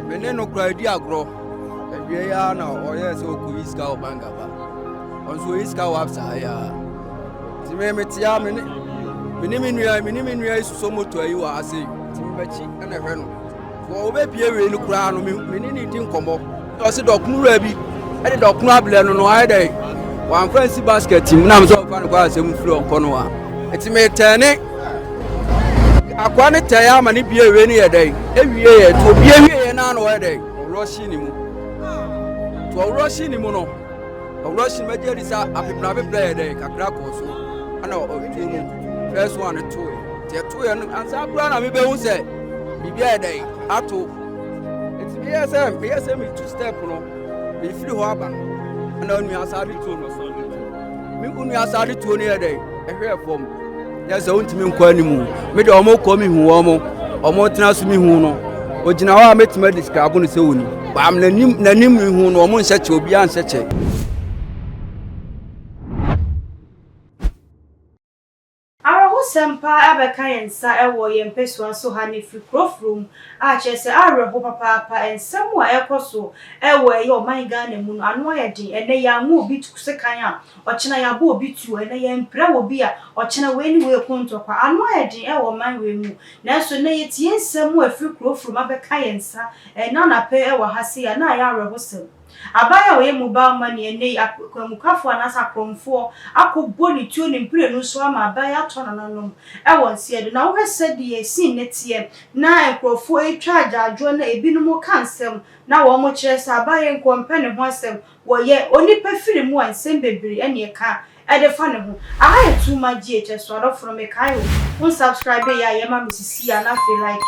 Me ne no koraa di agorɔ. Awiei ara na ɔyɛɛ sɛ ɔkɔyi sika wɔ bank aba. Ɔnso ɔyi sika wɔ apsa ha yi ara. Nti me metea me ne me ne me nua me ne me nua yi susɔ moto yi wɔ ha sei. Nti me bɛkyi ɛna hwɛ no. Wɔ ɔbɛpie wei no koraa no me ne ne di nkɔmmɔ. Ɔse dɔkono wura bi ɛde dɔkono ablɛ no no ayɛ dɛn? Wamfa nsi basket mu na me sɛ ɔmfa no kɔ asɛm firi ɔnkɔ no a. Nti me tɛne. akoa no tɛɛ ama ne bie wei no yɛ dɛn ewie yɛ to bie wie yɛ naa na ɔyɛ dɛn ɔwura si ne mu to ɔwura si ne mu no ɔwura si ne mu agye adi sɛ apepra apepra yɛ dɛn kakra kɔɔ so ɛna ɔtuo mu fɛs wɔn ano to yɛ tɛ to yɛ no ansa kura na mi bɛ hu sɛ biribi yɛ dɛn ato eti mi yɛ sɛ mi yɛ sɛ mi tu step no mi firi hɔ aba ɛna onua asa bi to no so. Me onua saa ne tuo no yɛ dɛn ɛhwɛɛ fam yɛ sɛ wontumi nkɔ anim me deɛ wɔn kɔ me hu wɔn wɔn tena so me hu no ogyina hɔ a mɛtumi adescribe no sɛ wɔni baam n'anim n'anim me hu no wɔn nhyɛ kyɛ obiara nhyɛ kyɛ Awerɛhosɛm paa abɛka yɛn nsa wɔ yɛn mpasua so ha na ɛfiri kuro foro mu a kyerɛ sɛ awerɛho papaapa. Nsɛm a ɛrekɔ so wɔ ɛyɛ ɔman Ghana mu no ano ayɛ den. Ɛnnɛ yɛammɔ obi tu sekan a, ɔkyena yɛabɔ obi tuo. Ɛnnɛ yɛmpira wɔ obi a, ɔkyena wei ne wei ko ntɔkwa. Ano ayɛ den wɔ ɔman wei mu. Nanso nnɛ yɛtie nsɛm a ɛfiri kuro foro mu abɛka yɛn nsa ɛnnɛ anɔpa yi wɔ ha sei a, na ayɛ awerɛhosɛm. Aban a ɔyɛ mobile money ɛnnɛ yi, akwanmukafo anaasɛ akorɔmfoɔ akɔbɔ ne tuo ne mprenu so ama aban atɔ nananom wɔ nseɛ do. Na wohwɛ sɛdeɛ scene no teɛ na nkorɔfoɔ retwa agyaadwoɔ na ebinom reka nsɛm na wɔkyerɛ sɛ aban yi nka ɔmpɛ ne ho asɛm, wɔyɛ onipa firi mu a nsɛm bebree na ɛka Ɛde fa ne ho. Aha yɛ too much GHS adɔfo no mekae o wo nsubscribe yɛ a yɛ ma me sisi a na afei like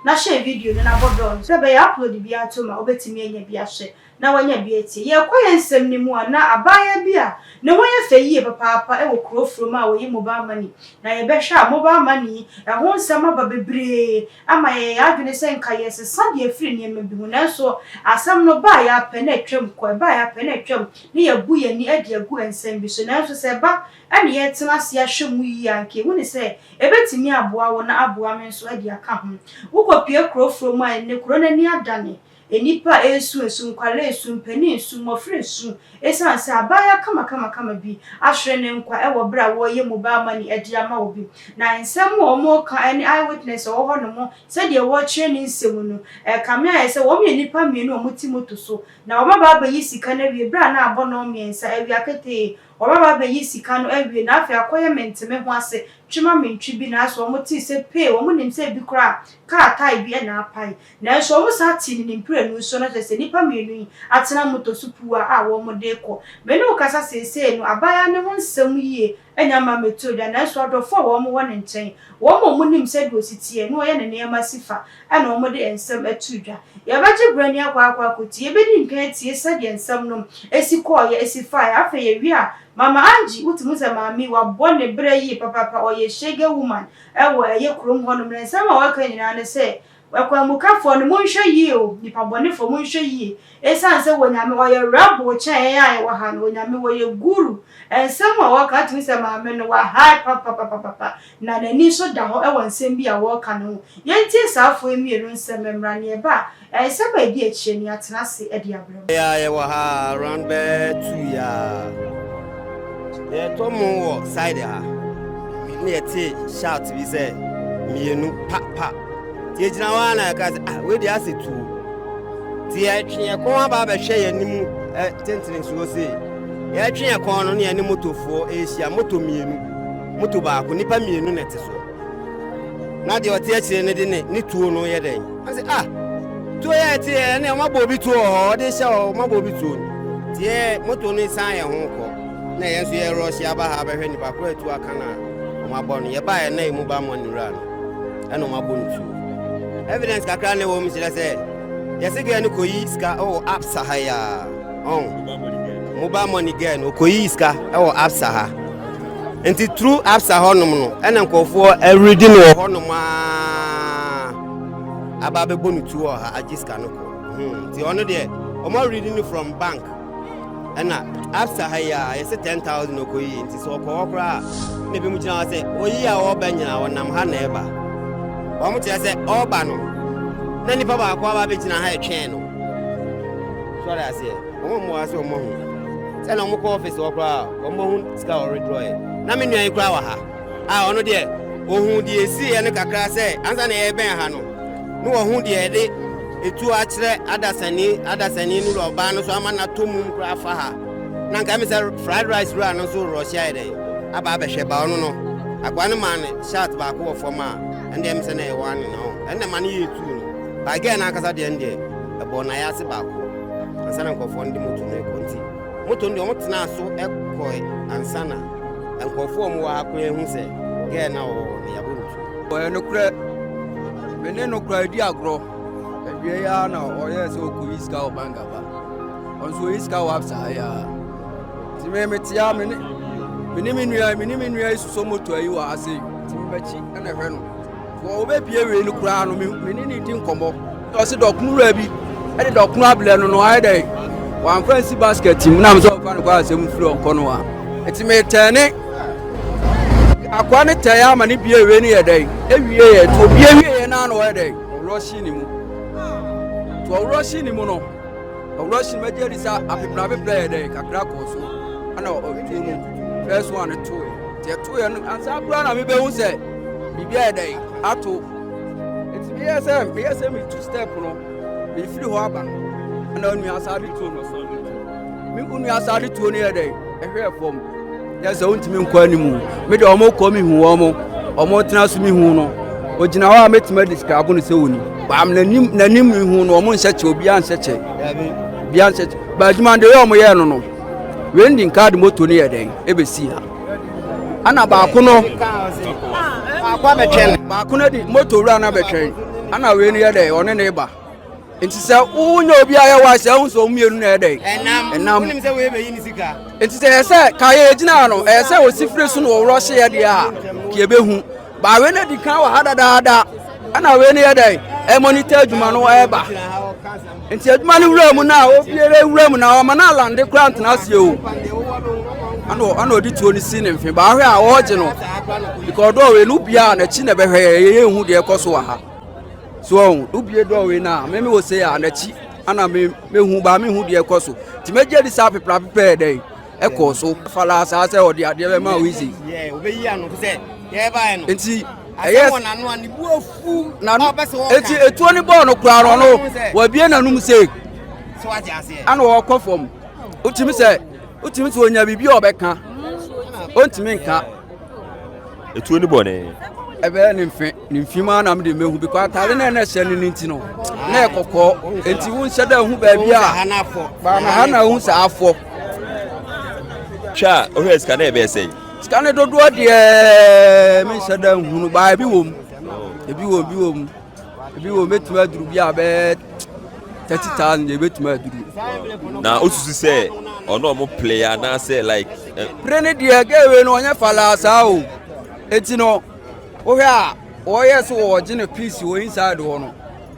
na share video no na bɔ bell no sɛ ɛbɛyɛ a upload biara to ma wobɛtumi anya bi ahwɛ na wanya bi atie. Yɛrekɔ yɛn nsɛm no mu a na abaayaa bi a ne ho yɛ fɛ yie papaapa wɔ kuro Furom a ɔyi mobile money na yɛbɛhwɛ a mobile money yi ɛho nsɛm aba bebree ama yɛyɛ yɛn adwene sɛ nka yɛresesa deɛ afiri nneɛma bi ho nanso asɛm no baeɛ ara pɛ na atwam kɔ ɛbaeɛ ara pɛ na atwam na yɛabu yɛn ani de agu nsɛm bi so. Nanso sɛ ɛba na yɛtena ase ahwɛ mu yiye a, anka ehu ne sɛ ebetumi aboa wo na aboa me nso de aka ho. Wokopue kurow foforo mu a, ɛnnɛ kurow no ani adane. Nnipa resu asu, nkwadaa resu, mpanyin resu, mmofra resu esiane sɛ abaayewa kamakamakama bi ahwere ne nkwa wɔ bere a wɔreyɛ mobile money de ama obi. Na nsɛm a wɔreka ne eyewitness a ɔwɔ hɔnom sɛnea wɔrekyerɛ ne nsɛm no, ɛkame ayɛ sɛ wɔyɛ nnipa mmienu a wɔte moto so Na wɔbɛba abɛyi sika no awie berɛ a na abɔ nnɔn mmiɛnsa awia ketee, wɔbɛba abɛyi sika no awie na afei akɔyɛ mente me ho ase twe ma me ntwe bi nanso wɔn tee sɛ pee, wɔn nim sɛ ebi koraa a kaa tae bi na apae. Nanso wɔn saa tee no ne mprenu so, na kyerɛ sɛ nnipa mmienu yi atena motor so puwaa a wɔn de rekɔ. Me ne wo kasa seesei no, abaayaa no ho nsɛm yie Anya mma mmetuo da, nanso adɔfoɔ a wɔn wɔ ne nkyɛn, wɔn a wɔnim sɛdeɛ ɔsi teɛ, ne ɔyɛ ne nneɛma si fa, ɛna wɔde nsɛm to dwa. Yɛbɛgye berɛ ne akɔ akɔ akɔtie, yɛbɛdi nkan atie sɛdeɛ nsɛm nom si kɔeɛ, si faeɛ. Afei yɛwie a, Mama Angie, wotumi hu sɛ maame yi, wabɔ ne berɛ yie papaapa, ɔyɛ Shege woman wɔ ɛyɛ kurom hɔnom, na nsɛm a ɔreka nyinaa ne sɛ, Akwanmukafoɔ no, monhwɛ yie o, nnipa bɔnefoɔ, monhwɛ yie, ɛsiane sɛ Onyame ɔyɛ rebel kyɛn yɛn a yɛwɔ ha no, Onyame ɔyɛ guru, nsɛm a ɔreka wotumi sɛ maame no wa high papapapapa, na n'ani nso da hɔ wɔ nsɛm bi a wɔreka no ho, yɛntie saa afoɔ yi mmienu nsɛm mmra, nea ɛba a, nsɛm a ɛdi akyire no yɛatena ase de abrɛ. Yɛ a yɛwɔ ha around bɛyɛ two yɛ a yɛtɔ mo wɔ side ha ne yɛte shout bi sɛ mmienu pa pa nti yɛgyina hɔ a na yɛka sɛ ah wei deɛ asɛ tuo nti yɛtwe yɛn kɔn aba abɛhwɛ yɛn anim eh, tentene nsuo sei yɛtwe yɛn kɔn no ne yɛne motofoɔ ɛrehyia moto mmienu moto baako nnipa mmienu na ɛte so na deɛ ɔte akyire no de ne ne tuo no yɛ dɛn ɔse a ah, tuo yɛ ɛte yɛ ɛne ɔma bɔ obi tuo wɔ hɔ ɔde hyɛ hɔ ɔma bɔ obi tuo no deɛ moto no san yɛ ho kɔ na yɛn nso yɛrɔ hyɛ aba ha abɛhwɛ nipa koro atu aka no a ɔma bɔ no yɛba yɛ na yɛ mu ba mmɔ ne wura no ɛna ɔma bɔ no tuo evidence kakra na ɛwɔ mu kyerɛ sɛ yɛse gɛ no kɔyi sika wɔ oh, apsa ha yaa ɔn mobile money girl no okoyi sika ɛwɔ absa ha nti through absa hɔnom no ɛna nkurɔfoɔ ɛredi no wɔ hɔnom aa aba abɛbɔ no tuo wɔ ha agye sika no kɔ hmm, nti ɔno deɛ wɔn awuredi no from bank ɛna absa ha yi a yɛsɛ ten thousand okoyi nti sɛ ɔkɔ hɔ koraa na ebi mu gyina hɔ sɛ oyi a ɔreba nyina ɔnam ha na ɛba wɔn kyerɛ sɛ ɔreba no na nipa baako aba abɛgyina ha ɛtwɛn no. Sɔre aseɛ, wɔn a wɔwɔ ha sɛ wɔahu sɛ na wɔkɔ ɔfis hɔ koraa a wɔahu sika a wɔredraw ɛ. Na me nua yi koraa wɔ ha a ɔno deɛ ɔhuu deɛ ɛsiiɛ no kakra sɛ ansa na yɛrebɛn ha no na wɔahu deɛ yɛde ɛtuo akyerɛ adasani adasani no wura ɔbaa no so ama no atɔ mum koraa afa ha na nka me sɛ fried rice wura no nso rɔhye ayɛ dɛn aba abɛhwɛ ba ɔno no akoa no maa no shirt baako wɔ fam a ɛndeɛ me sɛ na ɛwɔ ane na ɔho ɛnna ma no yɛ ɛtuo no By girl no ankasa deɛ no deɛ ɛbɔɔ no ayɛ ase baako ansa na nkurɔfoɔ no de moto no rekɔ nti moto no deɛ wɔn tenaa so kɔe ansa na nkurɔfoɔ a wɔn wɔ ha koraa hu sɛ girl no a ɔwɔ hɔ no yɛabɔ no tuo. Ɛyɛ nokorɛ, me ne no koraa di agorɔ, awieɛ yi ara na ɔyɛɛ sɛ ɔkɔyi sika wɔ bank aba, ɔno nso ɔyi sika wɔ absa ha yi ara, nti me mete a me ne me nua me ne me nua yi sosɔ moto yi wɔ ha sei, nti mebɛkyi na hwɛ no. Wɔn wɔbɛpie wei no koraa no, me ne ne di nkɔmmɔ. Ɔse dɔkono wura bi ɛde dɔkono abrɛ no no ayɛ dɛ wɔamfa nsi basket mu nam sɛ ɔmfa no kɔ asɛm firi ɔnkɔ no a ɛti metɛn ne akoa ne tɛn ama ne bie wei no yɛ dɛ ɛwie yɛ to bie wie yɛ no ano ɔyɛ dɛ ɔworɔ hye ne mu to ɔworɔ hye ne mu no ɔworɔ hye mu agya di sɛ apeprɛ apeprɛ yɛ dɛ kakra kɔɔ so ana ɔtuo no first one too Yɛtoeɛ no, ansa koraa na mebɛhu sɛ biribi ayɛ dɛn ato. Nti meyɛɛ sɛ meyɛ sɛ metu step no, mefiri hɔ aba na onua asade tuo no so. Me onua asade tuo no yɛ dɛn? Ɛhwɛɛ fam. Yɛ sɛ wontumi nkɔ anim. Me deɛ wɔn kɔ me hu wɔn, wɔn tena so me hu no. Ogyina hɔ a mɛtumi describe no sɛ oni. Baam n'anim n'anim me hu no wɔn nhyɛ kyɛ obiara nhyɛ kyɛ. Obiara nhyɛ kyɛ. Baadwuma deɛ wɔn yɛ no no. Wendy nkaa de moto no yɛ dɛn ebesii ha. Ɛna baako no baako abɛtwɛn baako no de moto wura no abɛtwɛn ɛna wei no yɛ dɛn ɔne ne ba nti sɛ wonyɛ obi a yɛwa sɛ ɛho sɛ ɔmmienu na ɛdɛ ɛnam nti sɛ ɛyɛ sɛ ka yɛ gyina no ɛyɛ sɛ ɔsi firi so na ɔworɔ hyeɛ deɛ a ka yɛbɛhu Ba wei na di kan wɔ ha dadaada ɛna wei no yɛ dɛ ɛmɔnita adwuma no ɛba nti adwuma no wura mu na obiara wura mu na ɔma no alande kora ntena aseɛ o ɛna ɔde tuo no si ne mfe baahwɛ a ɔregye no because dɔɔ wei no obiara n'akyi na ɛbɛhwɛ yɛ yɛyɛ ehu deɛ ɛkɔ so wɔ ha so ɔho obie dɔɔ wei no a meme wɔ sɛ a n'akyi ana mehu baa mehu deɛ ɛkɔ so nti mɛgye adi saa peprapepɛ yɛ dɛ ɛkɔɔ so. fala saa sɛ ɔde adeɛ bɛma wo isi nti ɛyɛ nti etuo ne bɔɔl no koraa no no wabie n'anum se ana ɔkɔ fam wotumi sɛ wotumi sɛ onya biribi a ɔbɛka ontumi nka etuo ne bɔne. ɛbɛyɛ ne mfe ne mfe mu anam de mehu bi kɔ atare na ɛna ɛhyɛ no ne nti no na ɛkɔkɔɔ nti wo nhyɛ dɛ hu baabi a baana ha na ehu saa afɔ. twɛ a ohwɛ sika na ɛbɛyɛ sɛn. sika ne dodoɔ deɛ menhyɛ dɛ nhunu baa ebi wɔ mu ebi wɔ ebi wɔ mu. ebi wɔ mɛtumi aduru bi a bɛyɛ thirty thousand deɛ ebɛtumi aduru. na osusu sɛ ɔno ɔmo play anaasɛ like. Eh, pere ne deɛ gɛɛwe no ɔnyɛ falaa saa o eti no wohwɛ a wɔyɛ so wɔgye no piece wɔ inside hɔ no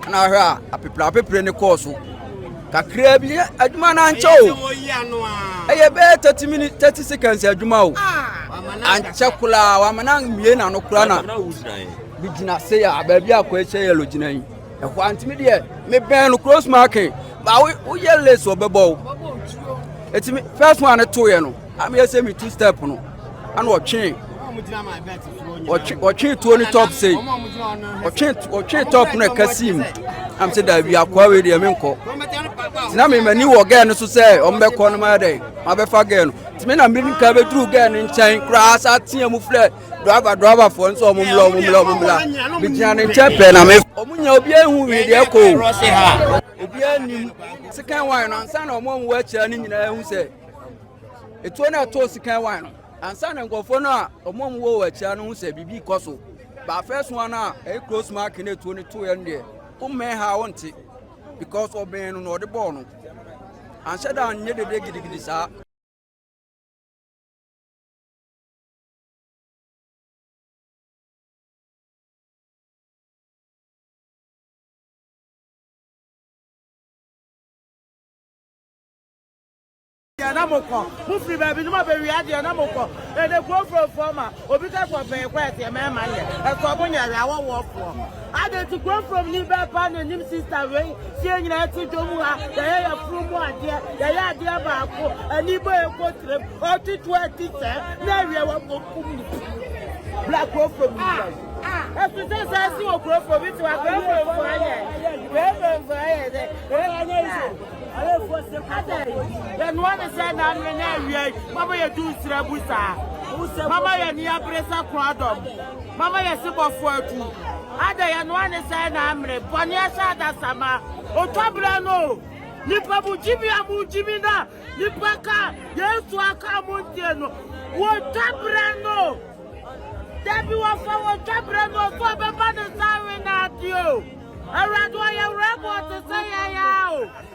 na ahwɛ a apepere apepere ne kɔɔ so kakraa bi adwuma no ankyɛ o ɛyɛ bɛyɛ thirty minutes thirty seconds adwuma o ankyɛ koraa wamena mmie na no koraa na. Megyina sei a baabi a Koekyɛ Yellow gyina yi ɛhɔ a ntumi deɛ mebɛn no close marking ba woyɛ lace ɔbɛbɔ wo ɛtumi first one ne toeɛ no ameyɛ sɛ metu step no ana ɔtwee ɔtwee tuo ne top sei ɔtwee top no ɛka sii mu am sɛ daabi akoa wei deɛ menkɔ tina memani wɔ gɛɛ no so sɛ ɔmbɛkɔ no mayɛ dɛn mabɛfa gɛɛ no tumi na mmirika bɛduru gɛɛ no nkyɛn koraa sa teɛ mu frɛ Driver driver fo nso ɔmo mla ɔmo mla ɔmo mla. Bi gyina ne nkyɛn pɛɛ na me. Ɔmo nyɛ obi ehu wi deɛ kɔ. Obi enim. Sikan wine no ansa na ɔmo a ɔmo wɔ akyira no nyinaa ehu sɛ etuo na ɛtoo sikan wine no ansa na nkorɔfoɔ no a ɔmo a ɔmo wɔ wɔ akyira no ho sɛ biribi kɔ so. Ba first one a ɛyɛ close mark na etuo no too yɛ no deɛ wommɛn ha a wonte because ɔbɛn no na ɔde bɔɔ no. Anhyɛ da anyɛ dede gidigidi saa. deɛ na mo kɔ mo firi baabi no ma bɛwie adeɛ na mo kɔ ɛdɛ kurofurofoɔ ma obi kɛ kɔ bɛn kɔ ɛteɛ mɛma nyɛ ɛkɔ mo nyɛ awɔwɔfoɔ Adɛn nti Kurofurom ni bɛɛ paa na ɛnim sista wei? Sɛ yɛn nyinaa te dwa mu ha, yɛyɛ yafunu mu adeɛ, yɛyɛ adeɛ baako, ani bɔ yɛn mpotirim, ɔte to ati sɛɛ na awia wɔ kɔ kum ne ti. Bra Kurofurom ni bra yi. Ɛte sɛ saa si wɔ Kurofurom, bi te wa Kurofuromfo ayɛ, Kurofuromfo ayɛ dɛ, adɛn, yɛnoa ne sɛ naanere na awia yi, mama yɛdu nsrabu saa, mama yɛn ani abere sɛ korɔdɔm. Mama yɛ se bɔfo atu. Ada yɛ noa ne sɛɛ na amere bɔne ahyɛ adasama otwa bra no o nipa mu gyimi a mo gyimi na nipa ka yesu aka a mo ntie no wo twa bra no dabi wɔ fa wɔ twa bra no so ɔbɛba ne nsa awe na ade o awurade ɔyɛ werɛ boɔ te sɛ yɛn a o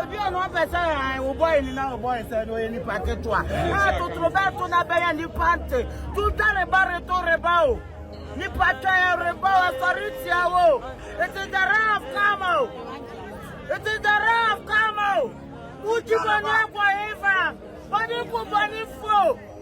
Obi a na ɔpɛ sɛ hann wo bɔe no na ɔbɔe sɛ na ɔyɛ nipa ketewa a totorobɛnto na bɛyɛ nipa nte tuta reba reto reba o nipa twɛn reba o asɔre tia wo it is the ray of karma o it is the ray of karma o wogyi bɔne akɔ hefa bɔne ku bɔne fo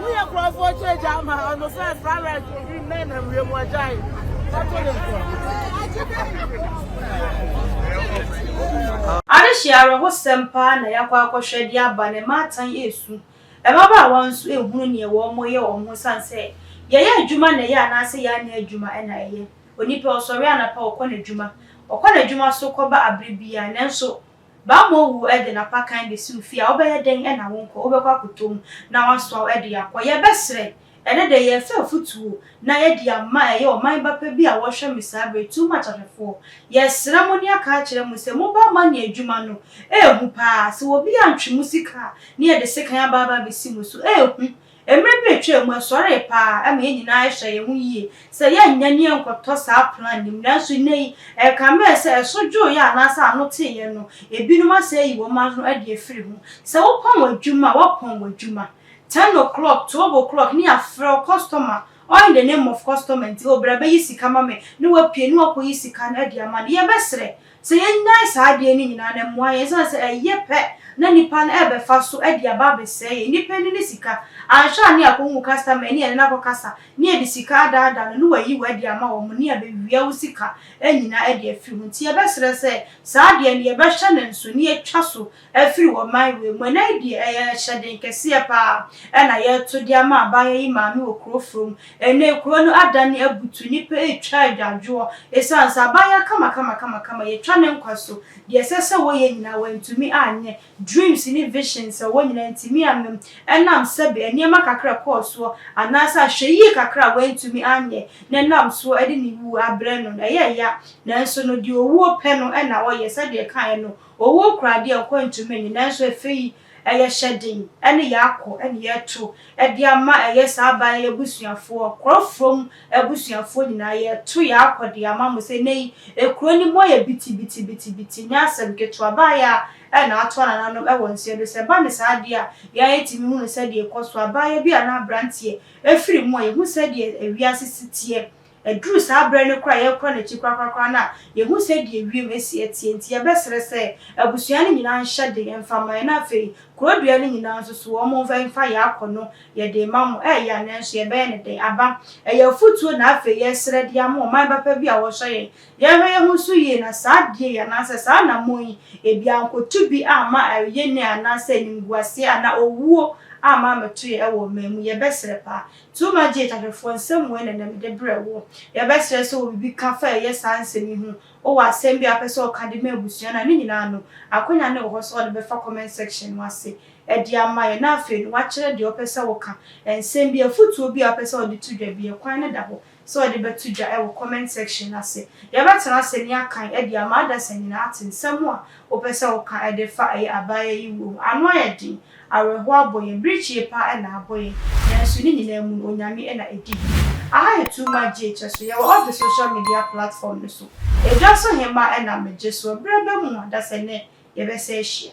Woyɛ kurɔfoɔ kyɛ gya ama ɔno sɛ saa right obi mmɛn na wie mu agyae. Ɔto ne nkorɔ. Adehye awerɛhosɛm paa na yɛakɔ akɔhwɛ de aba na ɛma atan resu. Mmabaawa nso rehunu nea wɔyɛ wɔn ho esiane sɛ yɛyɛ adwuma na ɛyɛ anaasɛ yɛanyɛ adwuma na ɛyɛ. Onipa ɔsɔre anapa ɔkɔ n'adwuma, ɔkɔ n'adwuma so kɔba bere biara nanso Bammɔ wu de n'apakan besiw fie a, wobɛyɛ dɛn na wonkɔ? Wobɛkɔ akɔtɔ mu na wɔasoa wo de akɔ. Yɛbɛsrɛ, ɛnnɛ da yi, yɛrefrɛ afotuo na yɛde ama ɛyɛ ɔman ba pɛ bi a wɔhwɛ me saa berɛ yi, Too Much ahwɛfoɔ. Yɛsrɛ mo ne aka akyerɛ mo sɛ moba ma ne adwuma no, ɛyɛ hu paa. Sɛ obi antwe mo sika a, ne yɛde sekan aba aba abɛsi mo so, ɛyɛ hu. Mmere bi retwam mu, ɛsɔree paa ma yɛn nyinaa hyɛɛ yɛn ho yiye sɛ yɛrenyɛ ne yɛrenkɔtɔ saa plan no mu. Nanso nnɛyi, ɛkame yɛn sɛ ɛso dwoo yɛn anaasɛ ano tee yɛn no, ebinom asan ayi wɔn ano adi afiri ho. Sɛ wopɔn adwuma a, woapɔn w'adwuma. Ten o'clock, twelve o'clock ne yɛafrɛ wo kɔstɔma, all in the name of kɔstɔma nti, oh bra bɛyi sika ma me, na wapue na wakɔyi sika no adi ama no. Yɛbɛsrɛ, Sɛ yɛnnyae saa adeɛ no nyinaa no mmoa yɛn ɛsiane sɛ ɛyɛ pɛ na nnipa no ɛrebɛfa so de aba abɛsɛe yɛn. Nnipa ani ne sika. Anhwɛ a ne akɔhu wo customer ne yɛne no akɔkasa ne yɛde sika adaadaa no ne wayi wo adi ama wɔn ne abɛwia wo sika nyinaa de afiri ho. Nti yɛbɛsrɛ sɛ saa adeɛ no yɛbɛhyɛ no nso ne yɛatwa so afiri wɔ man wei mu. Ɛnnɛ yi deɛ, ɛyɛ hyɛden kɛseɛ pa ara na yɛreto de ama abaayewa yi maame wɔ kuro foforɔ mu. Ɛnnɛ yi, kuro no adane abutu, nnipa retwa adwadwoɔ ɛsiane sɛ abaayewa kamakamakamakama, yɛatwa ne nkwa so. Deɛ ɛsɛ sɛ wɔyɛ nyinaa, wɔantumi anyɛ. Dreams ne visions a ɛwɔ nyinaa, antumi amma mu ɛnam sɛbe nneɛma kakra a ɛkɔɔ soɔ anaasɛ ahwɛyie kakra a wantumi anyɛ na ɛnam soɔ de ne wuo abrɛ no no. Ɛyɛ ya, nanso no deɛ owuo pɛ no na ɔyɛ, sɛdeɛ ɛkaeɛ no, Ɔwuo kura deɛ ɔkɔ ntumi nnye, nanso ɛfɛ yi, ɛyɛ hyɛ den ne yɛakɔ ne yɛreto de ama ɛyɛ saa aban yi abusuafoɔ, Korɔfrom abusuafoɔ nyinaa, yɛreto yɛakɔ de ama mo sɛ nnɛ yi, ekuro no mu ayɛ bitibitibitibiti, nyɛ asɛm ketewa, baayɛ a na ato anananom wɔ nseɛ do, sɛ ɛba no saa deɛ a, yɛn ara yɛtumi hunu sɛdeɛ ɛkɔ so, abaayɛ bi anaa aberanteɛ firi mu a, yɛhu sɛdeɛ wiase si teɛ. Ɛduru saa berɛ no koraa a yɛrekɔ n'akyi korakorakora no a, yɛhu sɛdeɛ wiem asi ateɛ nti, yɛbɛsrɛ sɛ abusua no nyinaa nhyɛ den mfa mma yɛn na afei kuro dua no nyinaa nso so wɔn mfa mfa yɛn akɔ no, yɛde rema mo. Ɛyɛ ya nanso yɛbɛyɛ no dɛn? Aba, ɛyɛ afotuo na afei yɛresrɛ de ama ɔman papa bi a wɔhwɛ yɛn. Yɛnhwɛ yɛn ho nso yie na saa adeɛ yi anaasɛ saa anammɔn yi, ebi annkɔtu bi amma ayɛnee anaasɛ animguaseɛ anaa owuo amma ammɛto yɛn wɔ ɔman mu. Yɛbɛsrɛ paa. Tuma gyee Gyatɛfoɔ nsɛm mmuae na nam de brɛɛ wo. Yɛbɛsrɛ sɛ wɔ biribi ka fa a ɛyɛ saa nsɛm yi ho, wowɔ asɛm bi a wopɛ sɛ wɔka de ma abusua no a, ne nyinaa no, akwanya no wɔ hɔ sɛ wɔde bɛfa comment section no ase de ama yɛn na afei no, woakyerɛ deɛ wopɛ sɛ woka, nsɛm bi, afotuo bi a wopɛ sɛ wɔde to dwa bi, ɛkwan no da hɔ sɛ ɔde bɛto dwa wɔ comment section no ase. Yɛbɛtena ase ne akan de ama adasa nyinaa ate nsɛm a wopɛ sɛ woka de fa ɛyɛ abaayewa yi wuo ho. Ano ayɛ den, awerɛhoɔ abɔ yɛn, birikyie paa na abɔ yɛn, nanso ne nyinaa mu no Onyame na ɛdi hene. Aha yɛ Too Much Gye Kyɛ so, yɛwɔ all the social media platform no so. Ɛdwa so hemaa na megye soɔ, berɛ bɛn mu adasa nnɛ yɛbɛsan ahyia.